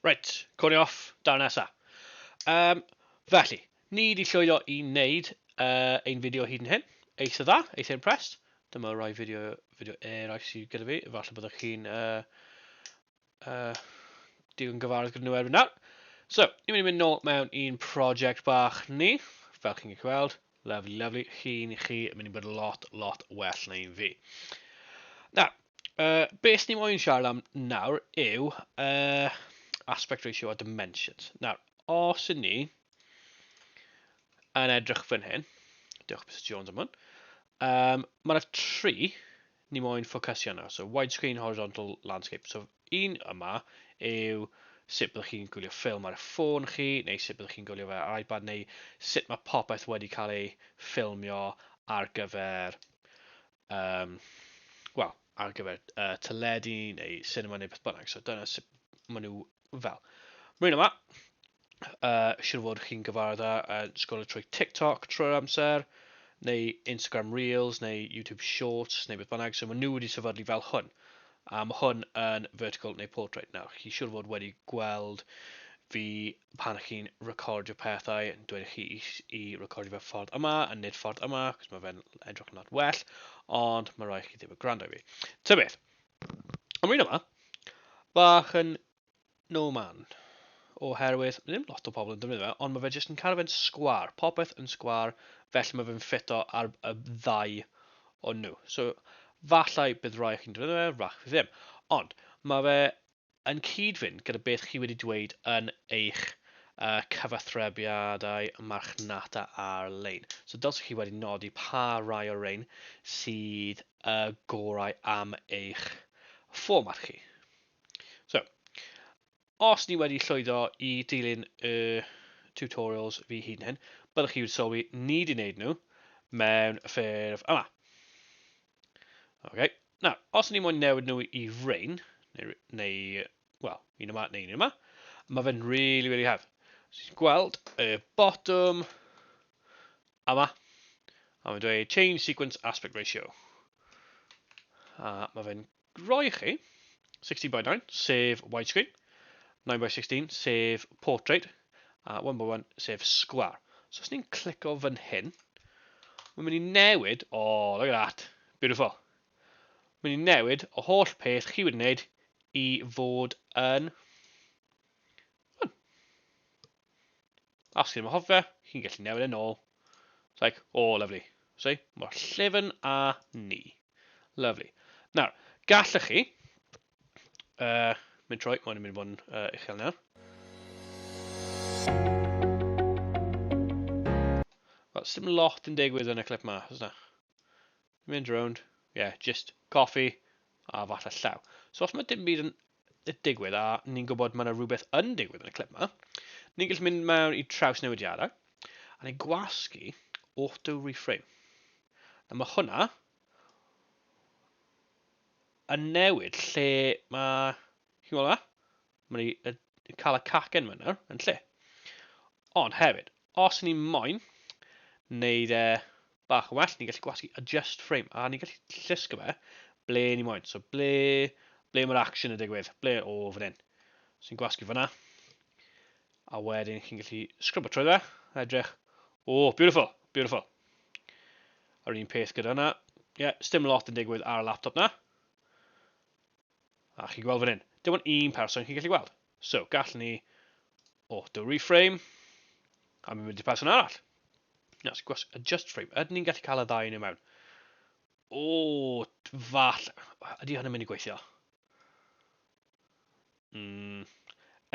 Right, cwni off, dar nesa. Um, felly, ni wedi llwyddo i wneud uh, ein fideo hyd yn hyn. Eitha dda, eitha impressed. Dyma rai fideo, fideo eraill sydd gyda fi. Falle byddwch chi'n uh, Uh, digon gyfarwydd gyda nhw erbyn nawr. So, ni'n mynd i mynd nôl mewn un project bach ni, fel chi'n gallu gweld. Lovely, lovely. Chi'n chi yn mynd i bod lot, lot well na un fi. Nawr, uh, beth ni'n moyn siarad am nawr yw uh, aspect ratio a dimensions. Nawr, os yn ni yn edrych fan hyn, diolch Mr Jones am hwn, um, mae yna tri ni moyn ffocysu arno. So wide screen horizontal landscape. So un yma yw sut byddwch chi'n gwylio ffilm ar y ffôn chi, neu sut byddwch chi'n gwylio fe ar iPad, neu sut mae popeth wedi cael ei ffilmio ar gyfer, um, well, ar gyfer uh, teledu neu cinema neu beth bynnag. So dyna sut maen nhw fel. Mae'n yma. uh, siwr fod chi'n gyfarwydd â uh, sgolio trwy TikTok trwy'r amser, neu Instagram Reels, neu YouTube Shorts, neu beth bynnag, so maen nhw wedi sefydlu fel hwn. A mae hwn yn vertical neu portrait. Nawr, chi siwr fod wedi gweld fi pan chi'n recordio pethau yn dweud chi i, i recordio fe ffordd yma a nid ffordd yma, cos mae fe'n edrych yn lot well, ond mae rhaid chi ddim yn gwrando i fi. Ta beth, am un yma, bach yn No man. Oherwydd, mae ddim lot o pobl yn defnyddio fe, ond mae fe jyst yn cael fe'n sgwar. Popeth yn sgwar, felly mae fe'n ffito ar y ddau o nhw. So, fallai bydd rai o chi'n defnyddio fe, rach fi ddim. Ond, mae fe yn cyd-fynd gyda beth chi wedi dweud yn eich uh, cyfathrebiadau marchnata ar-lein. So, dylsych chi wedi nodi pa rai o'r rein sydd y uh, gorau am eich fformat chi. So, os ni wedi llwyddo i dilyn y tutorials fi hun hyn, byddwch chi wedi sylwi ni wedi wneud nhw mewn ffurf yma. Okay. Nawr, os ni moyn newid nhw i rain, neu, neu wel, un yma neu un yma, mae fe'n really, really hawdd. Ti'n gweld y bottom yma, a mae'n dweud change sequence aspect ratio. A mae fe'n Rhoi chi, 16 by 9, sef widescreen, 9 by 16, sef portrait, a 1 by 1, sef sgwar. So os ni'n clico fan hyn, mae'n mynd i newid, oh, look at that, beautiful. Mae'n mynd i newid y holl peth chi wedi wneud i fod yn... Hwn. A os chi'n anghofio, chi'n gallu newid e'n ôl. It's like, oh, lovely. So, mor llefyn a ni. Lovely. Nawr, gallwch chi... Uh, mynd troi, mae'n mynd i fod yn uh, uchel nawr. Wel, sy'n lot yn digwydd yn y clip ma, ysna. Mynd rownd, ie, jyst coffi a falle llaw. So os mae dim byd yn digwydd a ni'n gwybod mae yna rhywbeth yn digwydd yn y clip yma, ni'n gallu mynd mewn i traws newidiadau a ni'n gwasgu auto reframe. A mae hwnna yn newid lle mae, chi'n gweld yma? Mae ni yn cael y cacen yma nawr, yn lle. Ond hefyd, os ni moyn wneud e bach yn well, ni'n gallu gwasgu adjust frame, a ni'n gallu llusgo fe ble ni moyn. So ble, ble mae'r action yn digwydd, ble o fan hyn. So ni'n gwasgu fyna, a wedyn chi'n gallu sgrwbo trwy fe, a edrych, o, oh, beautiful, beautiful. A'r un peth gyda hwnna, ie, yeah, stym lot yn digwydd ar y laptop na. A chi'n gweld fan hyn, dim ond un person chi'n gallu gweld. So, gall ni auto reframe, a mi'n mynd i person arall. Na, sy'n gwas adjust frame. Ydyn ni'n gallu cael y ddau yn ei mewn? O, fall. Ydy hynny'n mynd i gweithio? Mm,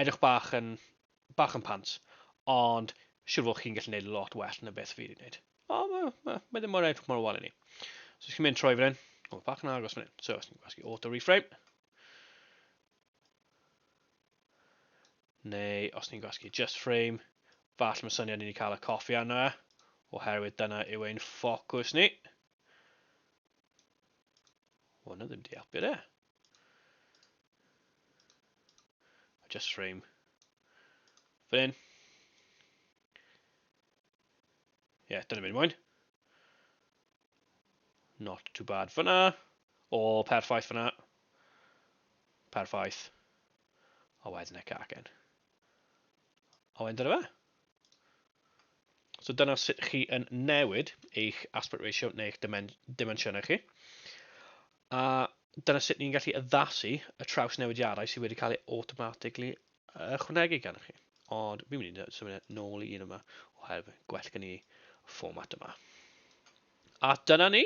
edrych bach yn bach yn pant, ond siwr fod chi'n gallu gwneud lot well na beth fi wedi gwneud. O, mae ma, ma ddim mor edrych mor wal i ni. So, chi'n mynd troi fan hyn, o, mae bach yn agos fan hyn. So, os ni'n gwasgu auto reframe, neu os ni'n gwasgu just frame, falle mae syniad ni wedi cael y coffi arno e, oherwydd dyna yw ein ffocws ni. Wel, na ddim di helpu de. I just frame fan hyn. Ie, yeah, dyna mynd mwyn. Not too bad fyna. O, oh, perffaith fyna. Perffaith. A wedyn y cacen. A wedyn dyna fe. So dyna sut chi yn newid eich aspect ratio neu eich dimen dimensiynau chi. A dyna sut ni'n gallu addasu y traws newidiadau sydd wedi cael ei automatically ychwanegu gan chi. Ond fi'n mynd i symud e nôl i un yma oherwydd gwell gen i fformat yma. A dyna ni!